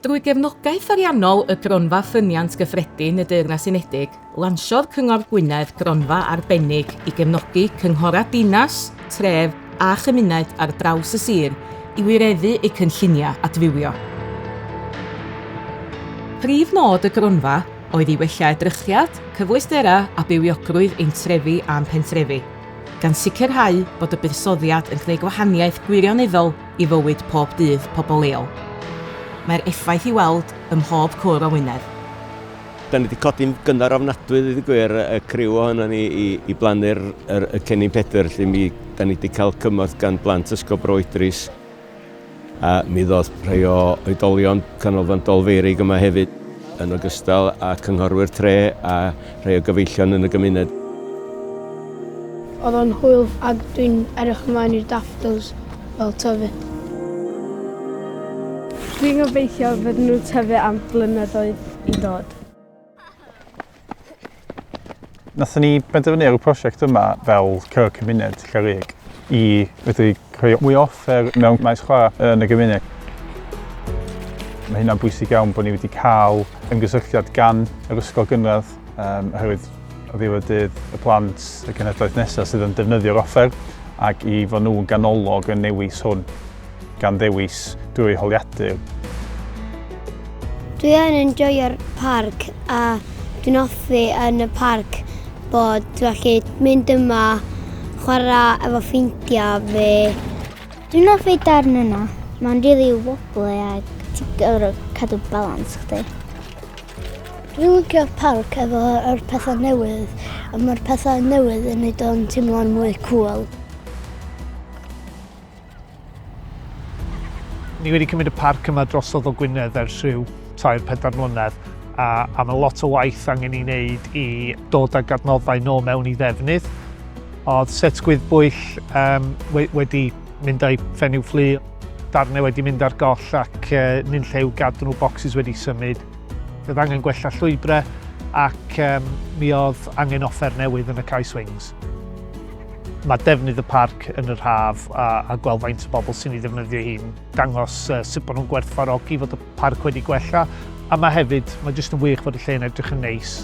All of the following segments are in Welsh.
Drwy gefnogaeth ariannol y Gronfa Ffyniant Gyffredin y Deyrnas Unedig, lansiodd Cyngor Gwynedd gronfa arbennig i gefnogi cynghorau dinas, tref a chymuned ar draws y sir i wireddu eu cynlluniau adfywio. Prif nod y gronfa oedd i wella edrychiad, cyfleusterau a bywiogrwydd ein trefi a'n pentrefi, gan sicrhau bod y buddsoddiad yn gwneud gwahaniaeth gwirioneddol i fywyd pob dydd pobl leol. Mae'r effaith i weld ym mhob cwr o Wynedd. Dan ni 'di codi'n gynnar ofnadwy ddeud y gwir, y criw ohonon ni, i i blannu'r yr y Cennin Pedr 'lly. Mi 'dan ni 'di cael cymorth gan blant Ysgol Bro Idris a mi ddoth rhai o oedolion Canolfan Dolfeurig yma hefyd yn ogystal â cynghorwyr tre a Rhai o gyfeillion yn y gymuned. Oedd o'n hwyl ag dwi'n edrych ymlaen i'r daffodils fel tyfu. Dwi'n gobeithio fydden nhw'n tyfu am flynyddoedd i ddod. Nathon ni benderfynu ar y prosiect yma fel cyngor cymuned Cerrig i fedru Rhoi mwy o offer mewn maes chwarae yn y gymuned. Mae hynna'n bwysig iawn bod ni wedi cael ymgysylltiad gan yr ysgol gynradd um, oherwydd o ddiwedd dydd y plant y cenhedlaeth nesaf sydd yn defnyddio'r offer ac i fod nhw'n ganolog yn newis hwn gan ddewis drwy holiadur. Dwi yn enjoio'r parc a dwi'n hoffi yn y parc bod dwi allu mynd yma, chwarae efo ffeindiau fi. Dwi'n hoffi darn yna, mae'n rili really wobbly a ti'n gorfod cadw balans chdi. Dwi'n lycio parc efo'r pethau newydd, a mae'r pethau newydd yn neud o'n teimlo'n mwy cŵl. Ni wedi cymryd y parc yma drosodd o Gwynedd ers rhyw 3-4 mlynedd a, a mae lot o waith angen i wneud i dod â gadnoddau nôl mewn i ddefnydd. Oedd set gwyddbwyll um, we, wedi mynd â'i ffenw fflu, darnau wedi mynd ar goll ac uh, nyn llew gadw'n bocsys wedi symud. Oedd angen gwella llwybrau ac um, mi oedd angen offer newydd yn y Kai Swings. Mae defnydd y parc yn yr haf a, a gweld faint o bobl sy'n ei ddefnyddio hi'n dangos uh, sut bod nhw'n gwerthfarogi fod y parc wedi gwella a mae hefyd, mae jyst yn wych bod y lle yn edrych yn neis.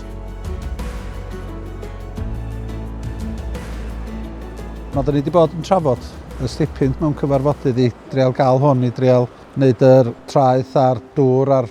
Mae dyn ni wedi bod yn trafod y stipyn mewn cyfarfodydd i dreol gael hwn, i dreol wneud yr traeth a'r dŵr a'r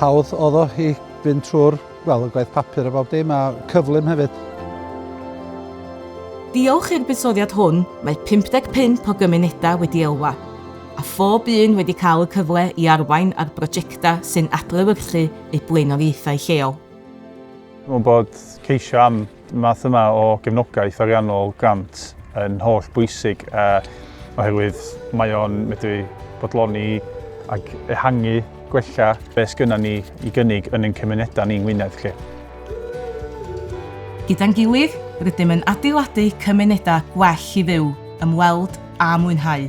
Hawdd oedd o i fynd trwy'r, wel, y gwaith papur a bob dim, a cyflym hefyd. Diolch i'r buddsoddiad hwn, mae 55 o gymunedau wedi elwa, a phob un wedi cael y cyfle i arwain ar brojectau sy'n adlewyrchu eu blaenoriaethau lleol. Dwi'n meddwl bod ceisio am Y math yma o gefnogaeth ariannol, grant, yn holl bwysig oherwydd mae o'n medru bodloni ac ehangu, gwella beth sgynnon ni i gynnig yn ein cymunedau ni yng Ngwynedd 'lly. Gyda'n gilydd, rydym yn adeiladu cymunedau gwell i fyw, ymweld a mwynhau.